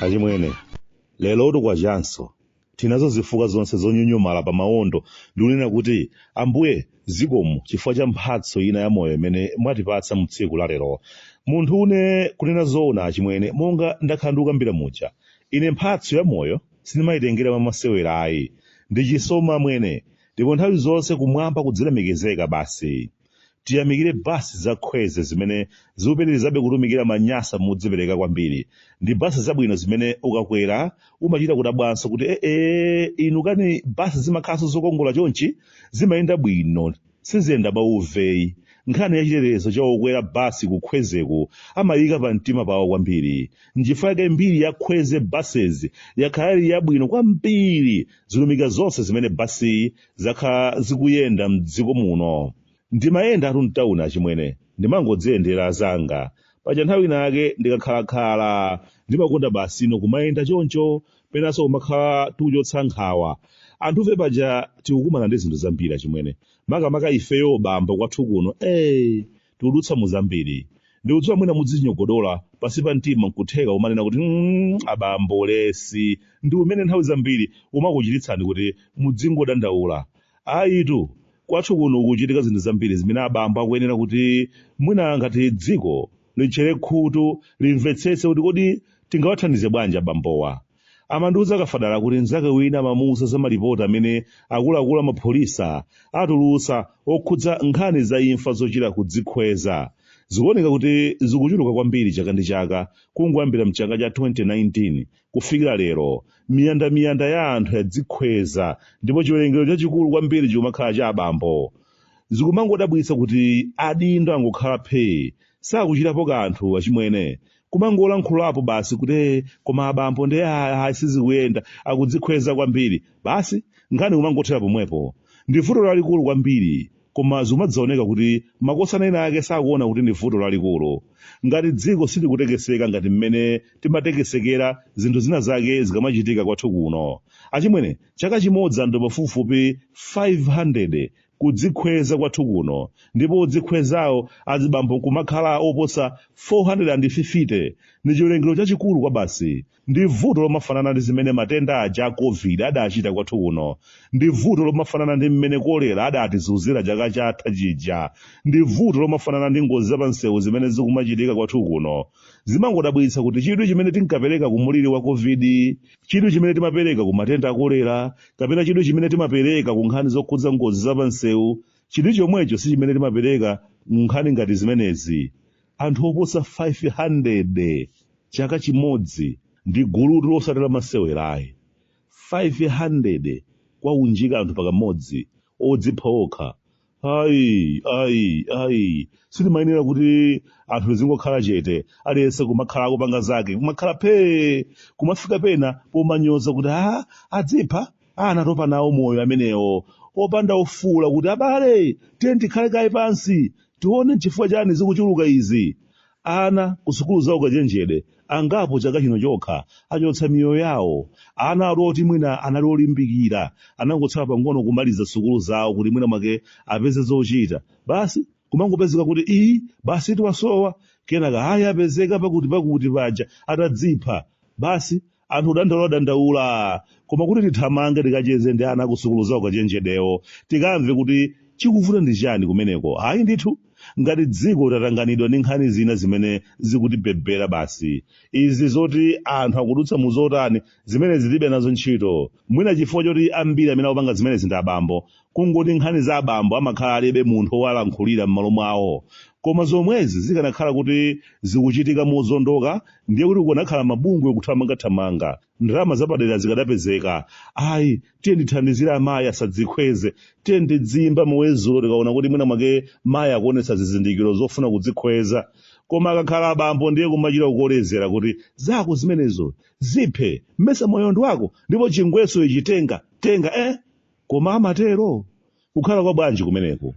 achimwene lero uti kwachanso tinazo zifukwa zonse zonyonyomala pa mawondo ndikunena kuti ambuye zikomo chifukwa cha mphatso ina ya moyo imene mwatipatsa mu tsiku la lero munthu une kunena zoona achimwene monga ndakhala ndikukambira muja ine mphatso ya moyo sindimayitengera mwamasewera ayi ndi chisomo amwene ndipo nthawi zonse kumwamba kudzilemekezeka basi tiyamikire basi za khweze zimene zikupitirizabe kutumikira manyasa modzipereka kwambiri ndi basi zabwino zimene ukakwera umachita kudabwanso kuti ee inu kani basi zimakhalanso zokongola chonchi zimayenda bwino siziyenda bauveyi nkhani ya chitetezo cha okwera basi kukhwezeku amayika pa mtima pawo kwambiri nchifukwa chake mbiri ya khweze buses yakhala ili yabwino kwambiri zilumika zonse zimene basizi zakhala zikuyenda m'dziko muno ndimayendatu mtauni achimwene ndimangodziyendera zanga paja nthawi inayake ndikakhalakhala ndimakonda basi ino kumayenda choncho penanso kumakhala tikuchotsa nkhawa anthufe paja tikukumana ndi zinthu zambiri achimwene makamaka ifeyo abambo kwathu kuno ee tikudutsa mu zambiri ndikudziwa mwina mudzinyogodola pansi pa mtima nkutheka umanena kuti mm, abambo ulesi ndi umene nthawi zambiri umakuchititsani kuti mudzingodandaula ayitu kwathu kuno kuchitika zinthu zambiri zimene abambo akuyenera kuti mwina ngati dziko litchere khutu limvetsetse kuti kodi tingawathandize bwanji abambowa amandiuza akafadala kuti mnzake wina amamuuza za malipoti amene akuluakulu amapolisa atulutsa okhudza nkhani za imfa zochita kudzikhweza zikuoneka kuti zikuchuluka kwambiri chaka ndi chaka kungoyambira mchaka cha 2019 kufikira lero miyandamiyanda ya anthu yadzikhweza ndipo chiwerengero chachikulu kwambiri chikumakhala cha abambo zikumangodabwitsa kuti adindo angokhala phee sakuchitapo kanthu achimwene kumangolankhulapo basi kuti "Eh, koma abambo ndiye ayi sizikuyenda akudzikhweza kwambiri basi nkhani kumangothera pomwepo ndi vuto lalikulu kwambiri koma zimadzaoneka kuti makosana ena ake sakuona kuti ndi vuto lalikulu ngati dziko silikutekeseka ngati mmene timatekesekera zinthu zina zake zikamachitika kwathu kuno achimwene chaka chimodzi anthu pafupifupi 500 kudzikhweza kwathu kuno ndipo odzikhwezawo azibambo nkumakhala oposa 450 ndi chiwerengero chachikulu kwabasi ndi vuto lomafanana ndi zimene matenda aja a covid adachita kwathu kuno ndi vuto lomafanana ndi mmene kolera adatizunzira chaka chatha chija ndi vuto lomafanana ndi ngozi zapamsewu zimene zikumachitika kwathu kuno zimangodabwitsa kuti chidwi chimene tinkapereka ku muliri wa covid chidwi chimene timapereka ku matenda akolera kapena chidwi chimene timapereka ku nkhani zokhudza ngozi za pansewu chidwi chomwecho si chimene timapereka ku nkhani ngati zimenezi anthu oposa 500 chaka chimodzi ndi gulutu losati la masewerayi 500 kuwaunjika anthu pakamodzi odzipha okha ayi ayi ayi sitimayenera kuti anthu tizingokhala chete aliyense kumakhala akupanga zake kumakhala phee kumafika pena pomanyoza kuti a adzipha a anatopa nawo moyo amenewo opanda ofuula kuti abale tiyeni tikhale kaye pansi tione chifukwa chani zikuchuluka izi Ana kusukulu za ukachenjede angapo chaka chino chokha achotsa miyoyo yawo. Ana ali oti mwina anali olimbikira anangotsala pang'ono kumaliza sukulu zawo kuti mwina mwake apeze zochita, basi kumangopezeka kuti ii basitu wasowa, kenaka ayi apezeka pakuti-pakuti paja atadzipha, basi anthu kudandaula dandaula koma kuti tithamange tikacheze ndi ana kusukulu za ukachenjedewo tikamve kuti chikuvuta ndi chani kumeneko ayi ndithu ngati dziko tatanganidwa ndi nkhani zina zimene zikutibebera basi izi zoti anthu akudutsa mu zotani zimenezi tilibe nazo ntchito mwina chifukwa choti ambiri amene akupanga zimenezi ndi abambo kungoti nkhani za abambo amakhala alibe munthu owalankhulira m'malo mwawo koma zomwezi zikanakhala kuti zikuchitika mozondoka ndiye kuti kukanakhala mabungwe kuthamangathamanga ndalama zapadera zikadapezeka ayi tiyeni tithandizire amayi asadzikhweze tiyeni tidziyimba muwezulo tikaona kuti mwina mwake mayi akuonetsa zizindikiro zofuna kudzikhweza koma akakhala abambo ndiye kumachita kukolezera kuti zako zimenezo ziphe mmesa moyo ndi wako ndipo chingweso ichi tenga tenga eh Koma amatero? Kukhala kwa bwanji kumeneko?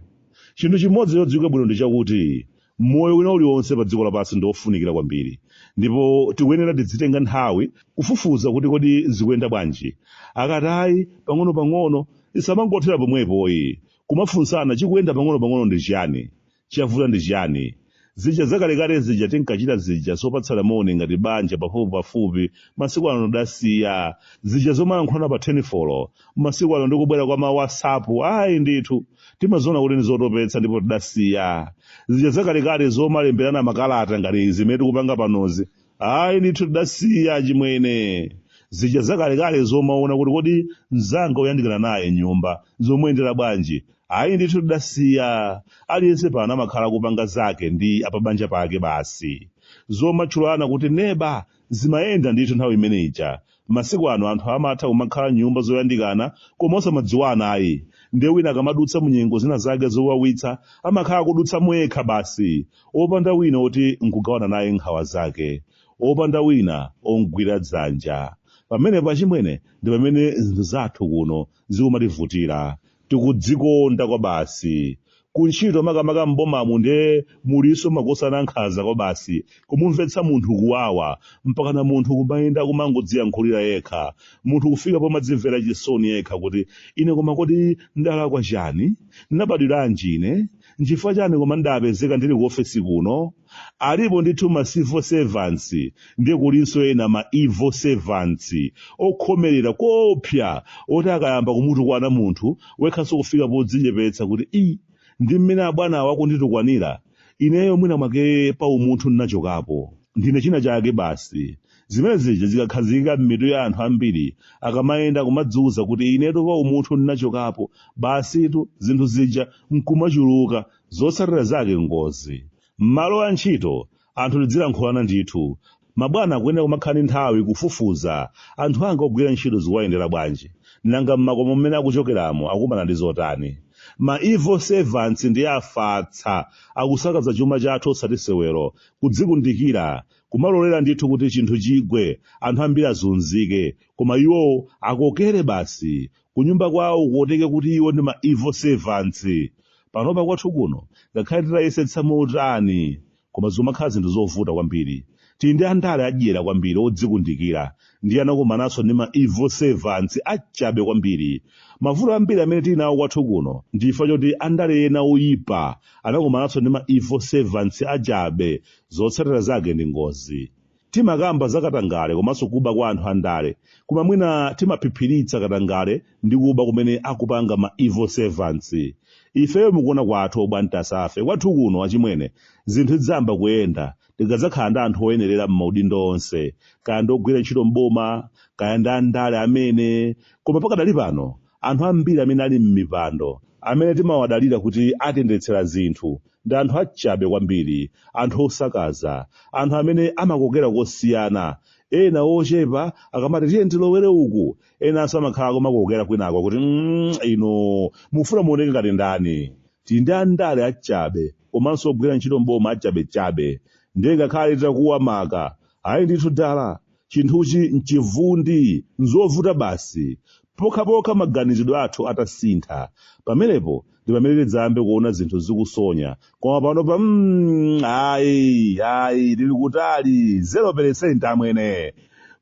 Chinthu chimodzi chodziwika bwino ndi chakuti moyo wina uliwonse pa dziko lapansi ndi wofunikira kwambiri, ndipo tikuyenera tidzitenga nthawi kufufuza kuti kodi zikuyenda bwanji. Akati ayi, pang'onopang'ono, tisamangothera pomwepoyi, kumafunsana chikuyenda pang'onopang'ono ndi chiyani? Chavuta ndi chiyani? Zija zakalekale zija tinkachita zija zopatsana moni ngati banja pafupipafupi, masiku ano tidasiya. Zija zomalankhulana pa thenifolo, masiku ano ndi kubwera kwa ma WhatsApp, ayi ndithu. Timaziona kuti ndi zotopetsa ndipo tidasiya. Zija zakalekale zomalemberana makalata ngati izi zimene tikupanga panozi, ayi ndithu tidasiya achimwene zija zakalekale zomaona kuti kodi mzanga woyandikana naye nyumba zomuyendera bwanji ayi ndithu tidasiya aliyense pano amakhala akupanga zake ndi apabanja pake basi zomatchulana kuti neba zimayenda ndithu nthawi imene ija Masiku ano anthu amatha kumakhala m'nyumba zoyandikana koma osamadziwana ayi. Ndiye wina akamadutsa mu nyengo zina zake zowawitsa, amakhala akudutsamo yekha basi, opanda wina woti n'kugawana naye nkhawa zake, opanda wina om'gwira dzanja. Pamenepo chimwene, ndi pamene zinthu zathu kuno zikumativutira. tikudzikonda kwabasi kuntchito makamaka m'bomamu nde mulinso makosana nkhaza kwabasi kumumvetsa munthu kuwawa mpakana munthu kumayenda kumangodziyankhulira yekha munthu kufika pomadzimvera chisoni yekha kuti ine koma kodi ndalakwa chani ndinabadwiranji ine nchifukwa chani koma ndapezeka ndili ku ofesi kuno alipo ndithu ma civil servants ndiye kulinso ena ma evil servants okhomerera koopsa oti akayamba kumutukwana munthu wekhanso kufika podzichepetsa kuti i ndi mmene abwanawa akunditukwanira ineyo mwina mwake pa umunthu ndinachokapo ndine china chake basi zimene zija zikakhazikika m'mitu ya anthu ambiri akamayenda kumadziwuza kuti inetu pa umunthu ndinachokapo basitu zinthu zija nkumachuluka zotsatira zake ngozi m'malo a ntchito anthu tidzilankhulana ndithu mabwana kuyenera kumakhala ndi nthawi kufufuza anthu anga ogwira ntchito zikuwayendera bwanji nanga m'makomo mmene akuchokeramo akumana ndi zotani ma evil servants ndiye afatsa akusakaza chuma chathu osati sewero kudzikundikira kumalolera ndithu kuti chinthu chigwe anthu ambiri azunzike koma iwo akokere basi kunyumba kwawo kuoteke kuti iwo ndi ma evil servants panopa kwathu kuno ngakhale titayesetsa motani koma zimakhala zinthu zovuta kwambiri tili ndi andale adyera kwambiri odzikundikira ndiye anakumananso ndi ma evil servants achabe kwambiri mavuto ambiri amene tili nawo kwathu kuno ndi chifukwa choti andale ena oyipa anakumananso ndi ma evil servants achabe zotsatira zake ndi ngozi timakamba za katangale komanso kuba kwa anthu andale koma mwina timaphiphiritsa katangale ndi kuba kumene akupanga ma evil servants ifeyo mukuona kwathu obwantasafe kwathu kuno achimwene zinthu zidzayamba kuyenda tikadzakhala ndi anthu oyenerera m'maudindo onse kaya ndi ogwira ntchito m'boma kaya ndi andale amene koma pakadali pano Anthu ambiri amene ali m'mipando, amene timawadalira kuti atiyendetsera zinthu, ndi anthu achabe kwambiri, anthu osakaza, anthu amene amakokera kosiyana, ena ochepa akamati tiye tilowere uku, enanso amakhala kumakokera kwinako kuti mm inu mukufuna muoneke ngati ndani? Tili ndi andale achabe komanso ogwira ntchito m'boma achabechabe, ndiye ngakhale titakuwa maka, ayi ndithu dala, chinthuchi n'chivundi, n'zovuta basi, Pokhapokha maganizidwe athu atasintha, pamenepo ndi pamene tidzayambe kuona zinthu zikusonya, koma panopa mm, ayi, ayi, tili kutali, 0% amwene.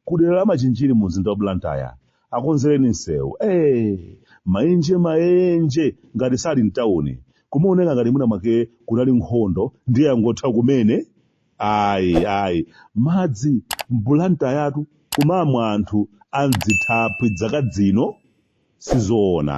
Ku dera la Machinjiri mu mzinda wa Blantyre, akonzereni msewu. Ee, maenje maenje ngati sali mtauni. Kumaoneka ngati mwina mwake kunali nkhondo ndiye yangotha kumene. Ayi ayi madzi mbulantayatu kumamwa anthu a m'zithaphwi zaka zino sizoona.